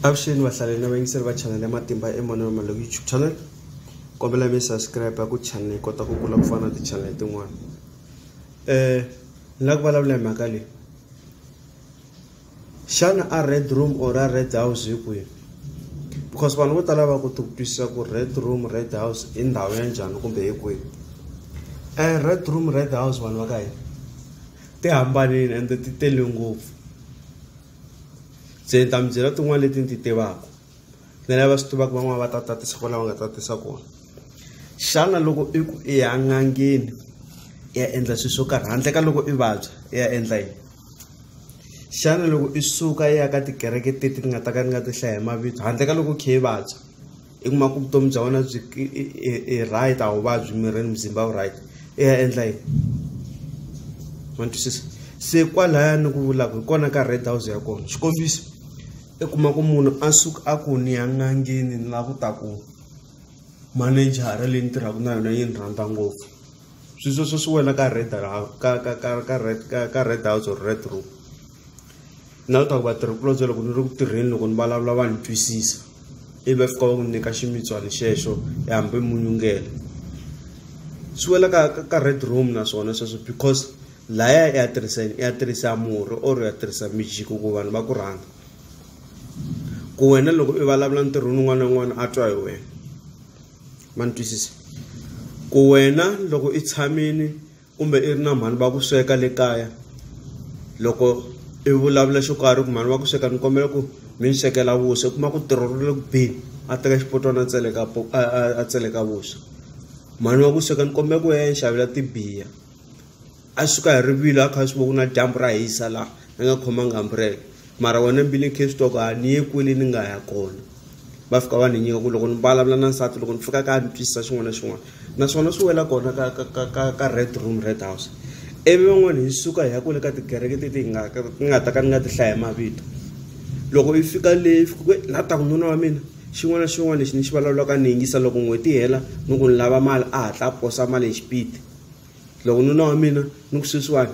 avuxeni vahlaleri na vayingiseri va chanele ya matimba emanana malo youtube channel kombela mi subscribe ku channel yi kota ku kula ku fana na tichanele tin'wana um ni lava ku vulavula hi mhaka leyi xana a red room or a red house hi kwihi because vanhu vo tala va koti ku twisisa ku red room red house i ndhawu ya njhani kumbe hi kwihi um red room red house vanhu va ka hina ti hambanile ende ti tele ngopfu se ni ta mi byela tin'wana leti ni ti tivaka ni lava swi tivaka van'wana va ta tatisa kona va nga tatisa kona xana loko i ku i ya n'angeni i ya endla swilo swo karhi handle ka loko i vabya i ya endla yini xana loko i suka i ya ka tikereke teti ni nga ta ka ni nga ti hlaya hi mavito handle ka loko i kha i vabya i kuma ku vutomi bya wena byi i right a wu vabyi mirini muzimba wu right i ya endla yini ma twisisa se kwalaya ni ku vulaka hi kona ka red house ya kona xikombiso i kuma ku munhu a suka a ku ni ya n'angeni ni la ku ta ku manejara leyi ni tirhaka na yona yi ni rhandza ngopfu sweswo swo swi wela ka red ka ka ka ka red ka ka red house or red room na leswaku vatirhikulobye loko ni ri ku tirheni loko ni vulavula va ni twisisa ivi va fika va n'wi nyika ximitswana xexo e hambi munyungela swi wela ka ka red room naswona sweswo because laya ya tirhiseni ya tirhisa murhi or ya tirhisa mijiko ku vanhu va ku rhanga ku wena loko i vulavula ntirhweni un'wana na un'wana a twa hi wena ma ni twisisa ku wena loko i tshamini kumbe i ri na mhani va ku sweka le kaya loko i vulavula xo karhi ku mhani va ku sweka ni kombela ku mi ni swekela vuswa i kuma ku tirho ri le ku beni a teka xipotwana a tseleka a tseleka vuswa mhani wa ku sweka ni kombela ku ya ni xavela tibiya a suka hi rivilo a kha a swi vona ku na dyambu ra hisa laha ni nga khomanga umbrella mara wena mbilwini case talk a ni ye kwele ni nga ya kona va fika va ni nyika ku loko ni vulavula na nsati loko ni fika kaya ni twisisa xin'wana na xin'wana naswona swi wela kona ka ka ka ka ka red room red house ivi van'wana hi suka hi ya kwele ka tikereke teti hi nga ni nga ta ka ni nga ti hlaya hi mavito loko yi fika leyi fika ku la ta ku nuna wa mina xin'wana na xin'wana lexi ni xi vulavulaka ni yingisa loko n'hweti hela ni ku ni lava mali a hatla a posa mali hi xipidi loko nuna wa mina ni ku sweswiwani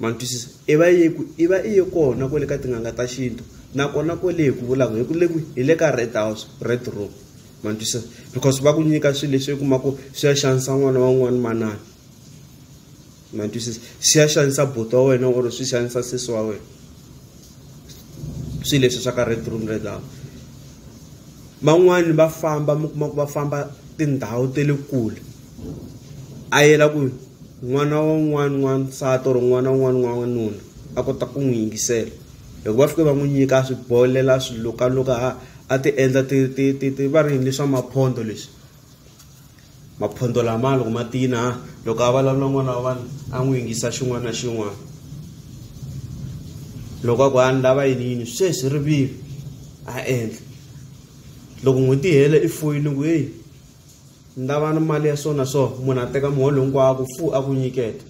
ma twisisa i va ye ku i va i ye kona kwale ka tin'anga ta xintu nakona kwale hi ku vulaka hi ku le kwi hi le ka red house red room ma twisisa because va ku nyika swilo leswi kuma ku swi ya xanisa n'wana wa n'wana manana ma twisisa swi ya xanisa buti wa wena or swi xanisa sesi wa wena swilo leswi swa ka Red Room Red House van'wani va famba mi kuma ku va famba tindhawu ta le kule a yela ku n'wana wa un'wana n'wansati or n'wana un'wana n'wanuna a kota ku n'wi yingisela loko va fike va n'wi nyika a swi bolela swilukaluka a ti endla ti ti ti ti va ri yini leswa maphondo leswi maphondho lama loko ma tina loko a vulavula n'wana wa vanhu a n'wi yingisa xin'wana na xin'wana loko a ku a ni lava yini yini sweswi rivilo a endla loko n'hweti hela i foyini ku heyi ni lava ni mali ya swona so munhu a teka muholo hinkwako fu a ku nyiketa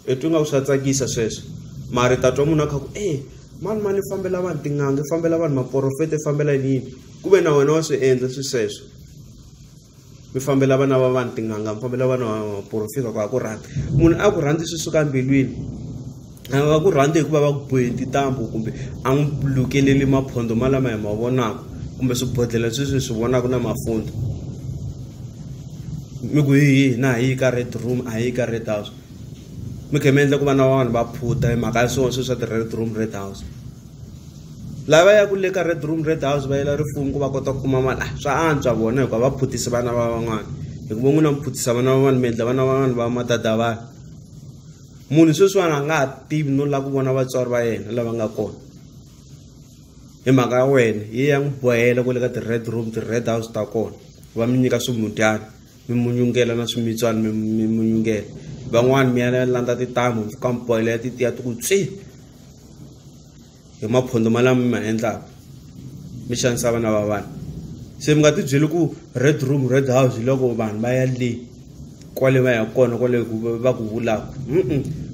i twi nga ku swa tsakisa sweswo mara ta twa munhu a kha ku e mani mani i fambela vanhu tin'anga i fambela vanhu maporofeta i fambela yini yini ku ve na wena wa swi endla swi sweswo mi fambela vana va vanhu tin'anga mi fambela vana va maporofita ku a ku rhandzi munhu a ku rhandzi swi suka mbilwini a nga ku rhandzi hikuva va ku bohe tintambu kumbe a n'wi lukeleli maphondo malama hi ma vonaka kumbe swibodhlela sweswi hi swi vonaka na mafundho mi ku hi hi na hi yi ka red room a hi yi ka red house mi khe mi endla ku vana va vanhu va phuta hi mhaka ya swona sweswi swa ti-red room red house lava ya ku le ka red room red house va yela rifuwo ku va kota ku kuma mali a ah, swa antswa vona hikuva va phutisi vana va van'wana hikuva n'wina mi phutisa vana va vanhu mi endla vana va vanhu va matata vanhu munhu sweswiwani a nga ha tivi no lava ku vona vatswari va yena lava nga kona hi mhaka ya wena yi ya n'wi bohela ku le ka ti-red room ti-red house ta kona va mi nyika swimudyana mi munyungela na swimitswana mi munyungela van'wani mi ya landza titamu mpfukambhoyela ya titiya ti ku tswi hi maphondo malama mi ma endlaka mi xanisa vana va vanhu se mi nga ti byeli ku red room red house hi loko vanhu va ya le kwale va ya kona kwale va ku vulaka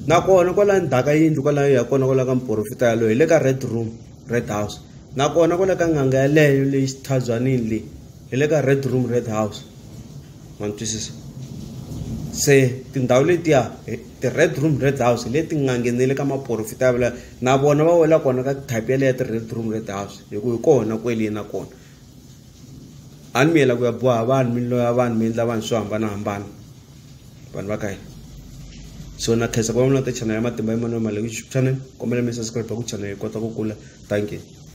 nakona kwala ndzhaka yindlu kwalayo ya kona kwala ka muporofita yaloyo hi le ka red room red house nakona kwala ka n'anga yaleyo leyi xithabywanini leyi hi le ka red room red house ma ni twisisa se tindhawu letiya ti-red room red house hi leti nga nghenele ka maporofita ya vula na vona va wela kona ka type yaleyo ya ti-red room red house hi ku hi kona kwele na kona a ni mi yela ku ya boha vanhu mi loya vanhu mi endla vanhu swo hambanahambana vanhu va ka hina so na khensa ku va mi na ta channel ya matimba ya mani wa mali ku channel kombela mi subscribe ku channel yi kota ku kula thank you